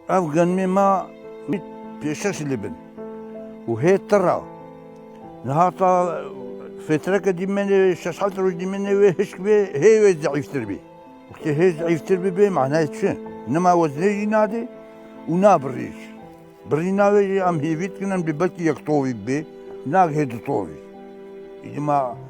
Ev genmê ma pêşeş li bin û hê tira. Niha ta fêtireke dîmenê şeş heft roj dîmenê wê hişk bê hê wê zeîftir bî. Wextê hê zeîftir bibê manayê çi? Nima weznê jî nadê û nabirî jî. Birîna wê jî em hêvî dikin em dê belkî yek tovî bibê, nag hê du tovî. Îdî ma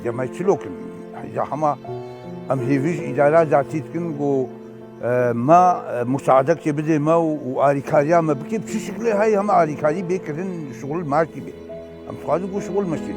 Îca me çilok in. Îca hema em hêvî ji îdara datî dikin ku me musaadekê bidê me û alîkariya me bike bi çi şikilê heye hema alîkarî bê kirin şixul martî bê. Em dixwazin ku şixul meşîn.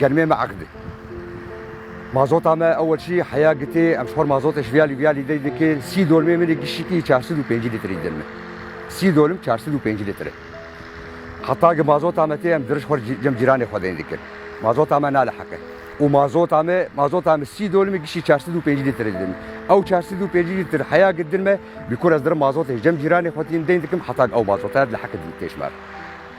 Germê me eqdî. Mazota me ewelşî heya gitê em ji xwe mazotê ji viyalî viyalî dey dikê sî dolmê min ê gişîtî çar sed û pêncî lîtrî didin min. Sî dolim çar sed û pêncî lîtr e. Heta ku mazota me tê em dirij xwe ji cem cîranê xwe deyn dikin. Mazota me naliheq e. Û mazota me mazota me sî dolimê gişî çar sed û pêncî lîtr didin min. Ew çar sed û pêncî lîtr heya ku didin me bîkur ez dirim mazotê ji cem cîranê xwe tîn deyn dikim heta ku ew mazotaya diliheq e dîn tê ji me re.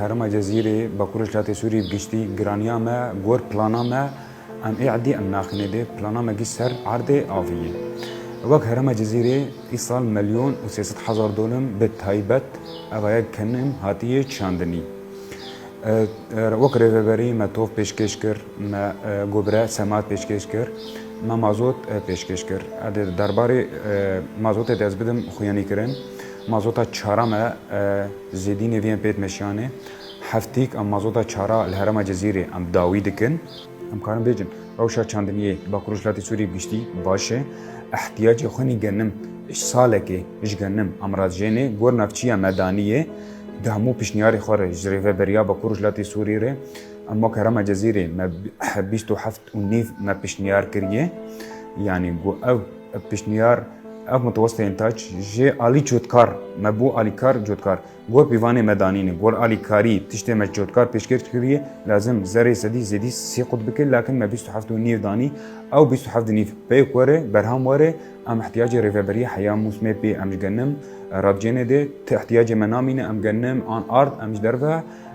Herêma Cezîrê, Bakur Rojhilatê Sûriyê bi giştî, giraniya me gor plana me em ê erdê em naxînê dê, plana me gişt ser erdê avî ye. Wek Herêma Cezîrê îsal melyon û sê sed hezar dolim bi taybet evayek kenim hatiye çandinî. Wek rêveberî me tov pêşkêş kir, me gobire semat pêşkêş kir, me mazot pêşkêş kir. Erdê di derbarê mazotê de ez bidim xwîyanîkirin, mazota çara me, Zêdî nêvîyên pê dimeşiyanê. Heftîk em mazota çara li herêma Cizîrê em dawî dikin. Em karin bêjin rewşa çandiniyê li Bakur Rojhilatê Sûriyê bi giştî baş e. Îhtiyacê xwe nî genim ji salekê ji genim em razijênê. Gor navçiya Medanî yê. Di hemû pişniyarê xwe re ji Rêveberiya Bakur Rojhilatê Sûriyê re em wek herêma Cizîrê me bîst û heft û nîv me piştniyar kiriye yanî ku ev piştniyar ev mutewesteyên taç jê alî cotkar me bû alîkar cotkar gor pîvanê me danîne gor alîkarî tiştê me cotkar pêşkêş kiriye lazim zerê sedî zêdî sî qut bike lakin me bîst û heft û nîv danî ew bîst û heft nîv pê ku were berham were em ihtiyacê rêveberî heya mûsmê pê em ji genim radcênê dê ti ihtiyacê me namîne em genim an ard em ji derve